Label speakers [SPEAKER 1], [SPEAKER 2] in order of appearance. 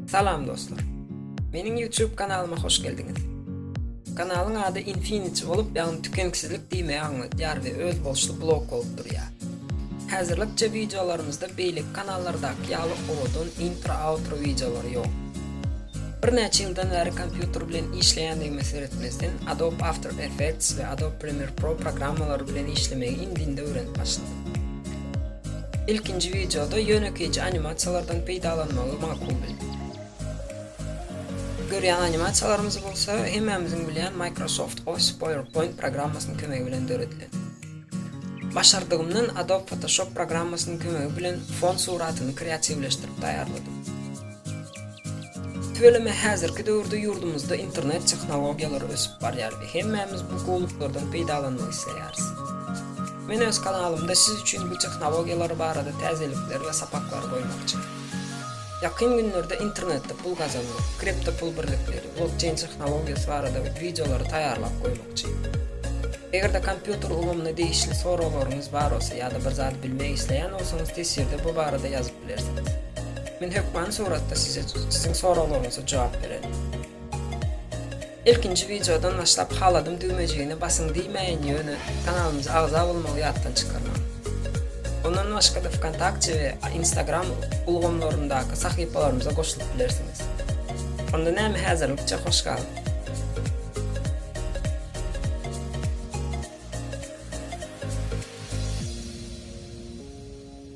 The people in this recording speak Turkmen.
[SPEAKER 1] Salam dostlar. Meniň YouTube kanalyma hoş geldiňiz. Kanalyň ady Infinity bolup, ýagny tükenksizlik diýmegi aňladýar we öz bolşly blok bolup durýar. Häzirlikçe wideolarymyzda beýleki kanallardaky ýaly owadan intro-outro wideolary ýok. Birnäçe ýyldan bäri kompýuter bilen işleýändigime seretmezden, Adobe After Effects we Adobe Premiere Pro programmalary bilen işlemegi indinde öwrenip başladym. Ilkinji wideoda ýönekeýje animasiýalardan peýdalanmagy makul bildim. Görýän animasiýalarymyz bolsa, hemmämiziň bilýän Microsoft Office PowerPoint programmasynyň kömegi bilen döredilen. Başardygymdan Adobe Photoshop programmasynyň kömegi bilen fon suratyny kreatiwleşdirip taýýarladym. Tüweleme häzirki döwürde ýurdumyzda internet tehnologiýalary ösüp barýar we hemmämiz bu gowluklardan peýdalanmak isleýäris. Men öz kanalymda siz üçin bu tehnologiýalar barada täzelikleri we sapaklary goýmakçy. Ýakyn günlerde internetde pul gazanmak, kriptopul birlikleri, blokçeýn tehnologiýasy barada wideolary taýýarlap goýmakçy. Eger-de kompýuter ulgamyna degişli soraglaryňyz bar bolsa ýa-da bir zady bilmek isleýän bolsaňyz teswirde bu barada ýazyp bilersiňiz. Men hökmany suratda size siziň soraglaryňyza jogap bererin. Ilkinji wideodan başlap haladym düwmejigine basyň diýmäýin ýöne kanalymyza agza bolmagy ýatdan çykarmaň. Ondan başgada Vkontakte we Instagram ulgamlaryndaky sahypalarymyza goşulyp bilersiňiz. Onda näme häzirlikçe hoş galyň.